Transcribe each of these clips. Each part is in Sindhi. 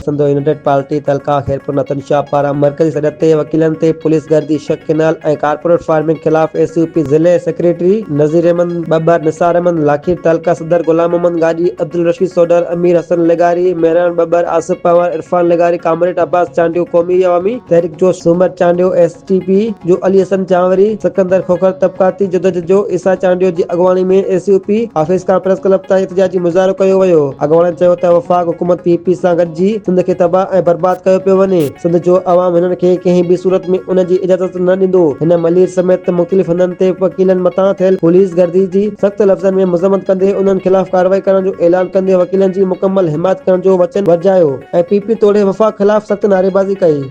سنڌ يونائيٽيڊ پارٽي تعلقه خيرپور نتن شاهه پاران مرڪزي صدر تي وڪيلن تي پوليس گهر جي شق ڪينال ۽ ڪارپوريٽ فارمنگ خلاف ايس يو پي ضلعي سيڪريٽري نذير احمد ٻٻر، نثار احمد لاکير، تعلقه صدر غلام محمد گاڏهي، عبدالرشيد سوڍر، امير حسن لغاري، مهراڻ ٻٻر، آصف پنهور، عرفان لغاري، ڪامريڊ عباس چانڊيو، قومي عوامي تحريڪ جو Soomar Chandio, S. T P جو علي حسن جانوري، سڪندر کوکر طبقاتي جدوجھد جو عيسيٰ چانڊيو جي اڳواڻي ۾ A C O P office کان پريس ڪلب تائين احتجاجي مظاهرو ڪيو ويو، اڳواڻن چيو ته وفاق حڪومت پي پي سان گڏجي سنڌ کي تباھ ۽ برباد ڪيو پيو وڃي، سنڌ جو عوام هنن کي ڪنهن به صورت ۾ ان جي اجازت نه ڏيندو، هن ملير سميت مختلف هنڌن تي وڪيلن مٿان ٿيل پوليس گردي جي سخت لفظن ۾ مذمت ڪندي انهن خلاف ڪارروائي ڪرڻ جو اعلان ڪندي وڪيلن جي مڪمل حمايت ڪرڻ جو وچن ورجايو ۽ پي پي توڙي وفاق خلاف سخت نعريبازي ڪئي.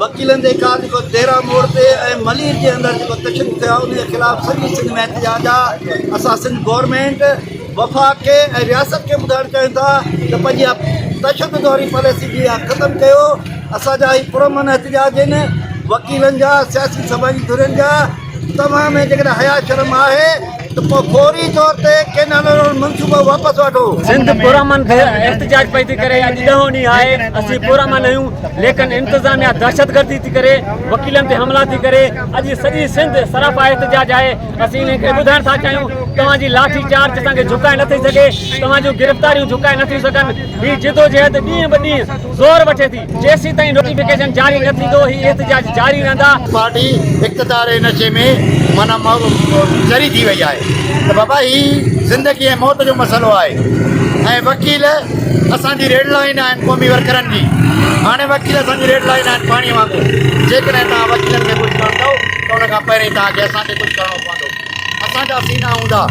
وڪيلن جي ڪار جيڪو ديرا موڙ تي ۽ ملير جي اندر جيڪو تشدد ٿيو آهي ان جي خلاف سڄي سنڌ ۾ احتجاج آهي اسان سنڌ گورنمينٽ وفاق کي ۽ رياست کي ٻڌائڻ چاهيون ٿا ته پنهنجي اها تشدد واري پاليسي جي اها ختم ڪيو اسان جا هي پرامن احتجاج آهن وڪيلن جا سياسي سماجي ڌرين جا توهان ۾ جيڪڏهن حيا شرم آهي ته پوء فوري طور تي ڪينال روڊ منصوبو واپس وٺو. سنڌ پرامن کي احتجاج پئي ٿي ڪري اڄ ڏهون ڏينهن آهي اسين پرامن آهيون ليڪن انتظاميا دهشتگردي ٿي ڪري وڪيلن تي حملا ٿي ڪري اڄ سڄي سنڌ سراپا احتجاج آهي اسين انهن کي ٻڌائڻ ٿا چاهيون توهان جي لاٺي چارج اسان کي جهڪائي نه ٿي سگهي توهان جون گرفتاريون جهڪائي نه ٿيون سگهن هي جدوجهد ڏينهن به ڏينهن زور وٺي ٿي. جيسيتائين نوٽيفڪيشن جاري نه ٿيندو هي احتجاج جاري رهندا. پارٽي اقتدار جي نشي ۾ معنيٰ چري ٿي وئي آهي ته بابا هي زندگي ۽ موت جو مسئلو آهي ۽ وڪيل اسان جي ريڊ لائين آهن قومي ورڪرن جي هاڻي وڪيل اسان جي ريڊ لائين آهن پاڻي وانگر جيڪڏهن توهان وڪيلن کي ڪجهه ڪندؤ ته ان کان پهرين توهان کي اسان کي ڪجهه ڪرڻو پوندو اسان جا سينا هوندا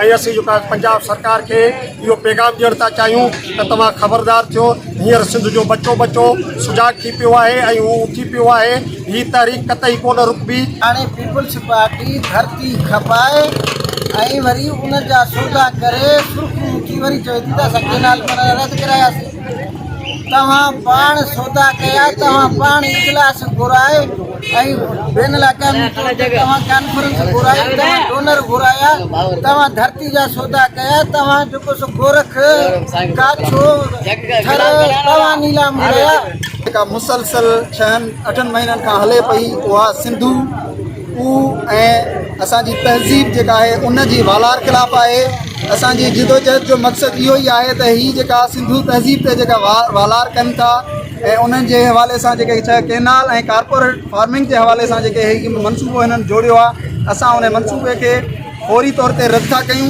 ۽ اسين جيڪا پنجاب سرڪار کي اهو پيغام ڏيڻ ٿا چاهيون ته توهان خبردار ٿيو هينئر سنڌ جو ٻچو ٻچو سجاڳ ٿي پيو آهي ۽ هو اٿي پيو آهي هي تحريڪ قطعي ڪونه رڪبي. هاڻي پيپلز پارٽي ڌرتي کپائي ۽ وري ان جا سودا ڪري سرخرو ٿي وري چوي ٿي ته اسان ڪينال بنائڻ رد ڪراياسين. توهان پاڻ سودا ڪيا، توهان پاڻ اجلاس گهرايا ۽ بين الاقوامي طور تي توهان ڪانفرنس گهرائي، توهان ڊونر گهرايا، توهان ڌرتي جا سودا ڪيا، توهان جيڪو سو گورک، ڪاڇو، ٿر توهان نيلام ڪيا. جيڪا مسلسل ڇهن اٺن مهينن کان هلي پئي اها سنڌو، اهو ۽ اسان جي تهذيب جيڪا آهي ان جي والار خلاف آهي اسان جي جدوجهد جو مقصد اهو ئي آهي ته هي جيڪا سنڌو تهذيب تي جيڪا والار ڪن ٿا ۽ انهن جي حوالي سان جيڪي چھ ڪينال ۽ ڪارپوريٽ فارمنگ جي حوالي سان جيڪي هي منصوبو هنن جوڙيو آهي اسان ان منصوبي کي فوري طور تي رد ٿا ڪيون